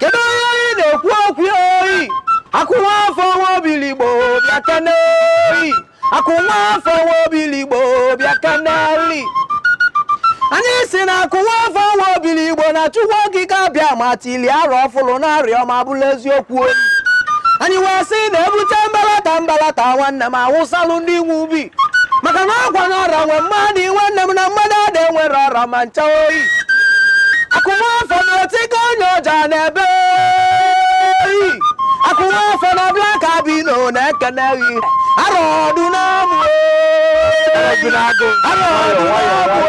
kedu onye anyị na-ekwu okwu oyi akụnwafọ nwa obiligbo bịa kene oyi akụnwafọ nwa obiligbo bịa kenelụ anyị sị na akụnwafọ nwa obiligbo na chukwu okike abịama tili arọ ọfụlụ na arịọ ma bụlụ eziokwu oyi anyị wee sị na ebute mbalata mbalata nwanne m awụsalụ ndị nwe ubi maka na ọgwa na ọra nwe mmadụ iwe nne m na mmadụ ada enwere ọra ma ncha oyi akụnwafọ na otigo onye ọja na-ebe oyi akụnwafọ na black albino na-ekene gị arọ ọdụ n'amụ arọ ọdụ n'amụ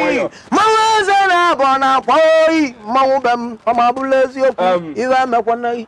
oyi mmanwụ eze na-abụ na akwa oyi mmanwụ be m ọ ma bụlụ eziokwu ife emekwana gị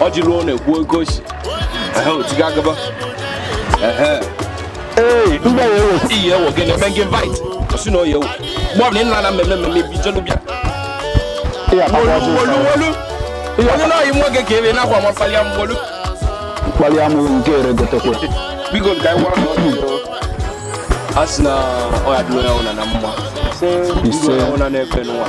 ọ ji ruo na-ekwu oke osi otiga agaba iyi ewo gị na-eme gị invite osi na oyi ewo mgbe ọbụla ị nara na mmemme mmemme bi jelu bịa wolu wolu onye na-oyi nwa oge ka ebe na-akwa ma kpalịa m wolu mkpali amụghị nke ere gotekwe biko ka anyị gwara ọrụ a sị na ọ ya-adịrị onye ọbụla na mma ise onye ọbụla na-efe n'ụwa